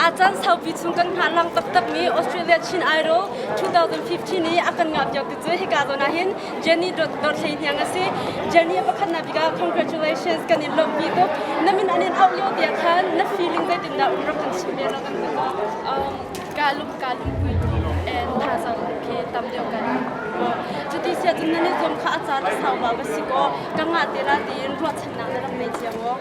Aa caan saupi chung kan hngahlang taktakmi Australia Chin Idol 2015 i a kan ngahpiak tu cu hika zawn ah hin Jenny Dorthley hniang a si. Jenny a pakhatnak bik ah congratulations kan in lawmhpi tuk. Na min an in auh lio tiah khan na feeling zeitin dah um rak kan chim ve rak kan hngalh ko. Um, kaa lum kaa lum and thaza khi tam deuh kan cuti siah cun nan i zuam kha a caan a sau ba va si kaw ka ngah te la tiin ruahchannak na rak ngei cia maw?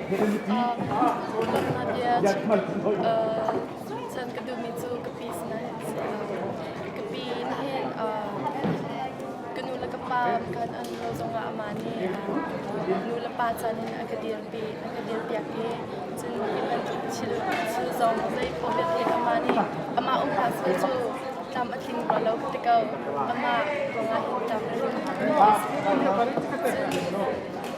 Chan ka duhmi cu ka pi sinah hin si lo. Ka pi in hin ka nu le ka pa kan an lo zongah amah nih nu le pa chan in a ka dirpi a ka dirpiak i cun ihman thil thil zong zei poh vialte amah nih amah umpa sual cu tlam a tling rua lo ti ko amah ruangah hin tlam a tling cun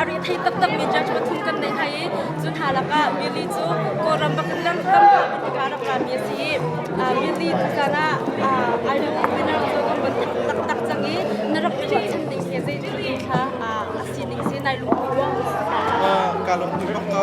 a rih thei taktakmi judge pathum kan nei hna i cu hna lakah Millie cu Kawlram bak in lam lamhla hman tikah a rak lami a si i Millie tuzan ah Ireland winner cu kan von taktak cang i na rak i ruahchan ding hi zei thil kha a si ning si nai lungput ruang ka lungput bak ko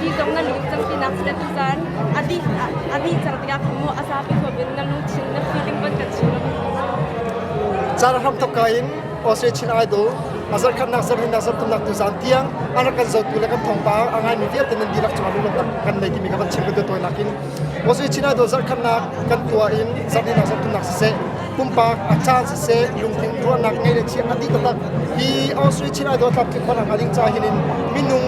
Hi zong na nu cang tinak si tu caan a dih a dih cang tikah mu a zapi huam in na nu thin na si ding ban kan chim lo. Caan ham thokka in Australia Chin Idol a zarh khatnak zarh himnak zarh tumnak tu zan tiang an rak kan zotu le kan thawngpa a ngaimi vialte nan dirak cung ah lunglawmhnak kan nei timi ka van chim ka tuah tawi nakin Australia Chin Idol zarh khatnak kan tuah in zarh himnak zarh tumnak siseh pumpak a caan siseh lungthin ruahnak ngei le thiam a ti taktak hi Austria Chin Idol Club khi khona hnga ding ca hin in minung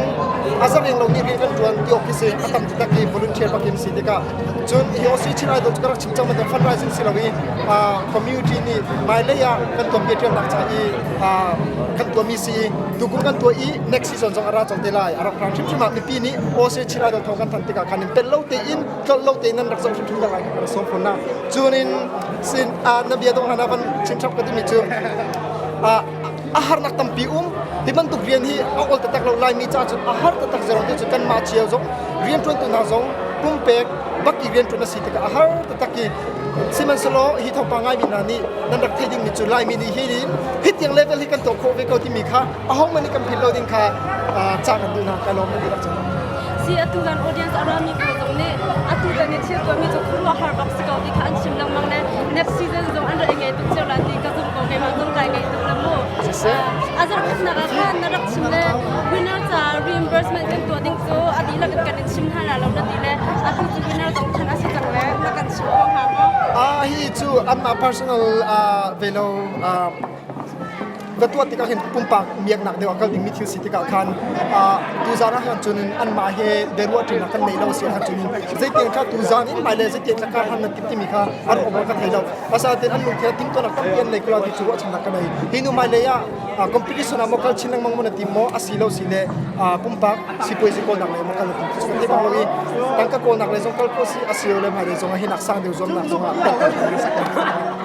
a zareng lo nih rian kan tuan ti awk hi si a tam taktak hi volunteer pakim si tikah cun hi Austria Chin Idol cu ka rak chim cang mater fundraising si lo i community nih mai lei ah kan tuan bia ṭialnak ca i kan tuahmi si i tukum kan tuah i next season zong a ra cang te lai a rak rang hrimhrim ah mipi nih Austria Chin Idol thawng kan thanh tikah khan in pel lo tein tlolh lo te nan rak zoh hrimhrim lai sawm phun na cun in sin a na bia dong hana van chin chap ka timi cu a a harnak tampi um hi bantuk rian hi a ol tatak lo lai mi ca cu a har tatak zero te cu kan ma chiao zong rian tuan tu hna zong pumpek bak i rian tuan a si tikah a har tatak i sihmanhselaw hi thawngpa ngai mi hna nih nan rak theih ding mi cu laimi nih hi hin hitiang level hi kan tuah khawh ve ko timi kha ahohmanh nih kan philh lo ding kha cah kan duh hna ka lawm kan ti bak Si atu kan audience a rami ko zong nih atu tan i thil tuahmi cu khuaruahhar bak si ko ti kha an chim lengmang le next season zong an rak i ngei tuk cio la ti ka zumh ko keimah zong kai ngei tuk le mu a zarhpatnak ah khan na rak chim le winner caah reimbursement kan tuah ding cu a dihlak in kan i chim hna la lo na ti le atu cu winner zong chan a si cang le na kan chim ko hnga maw? Ah hi cu anmah personal ve lo ka tuah tikah hin pumpak miaknak deuh ah kal dingmi thil si tikah khan tuzaan ah cun anmah he biaruahṭinak kan nei lo si ahcun zeitiang kha tuzaan in hmailei zeitiang thlakah hlan nan timi kha an um kan thei lo asatin an lungthe tingtuanak tampi an nei kula ti cu ruahchannak ka nei hi nu hmailei ah competition ah mo kal chin lengmang mo na tim mo asi lo si le pumpak sipuai si kawlnak le mo kal tim su te bang lo i tangka kawlnak le zong kal ko si asi le hmailei zong ah hinak sang deuh zuamnak zong ah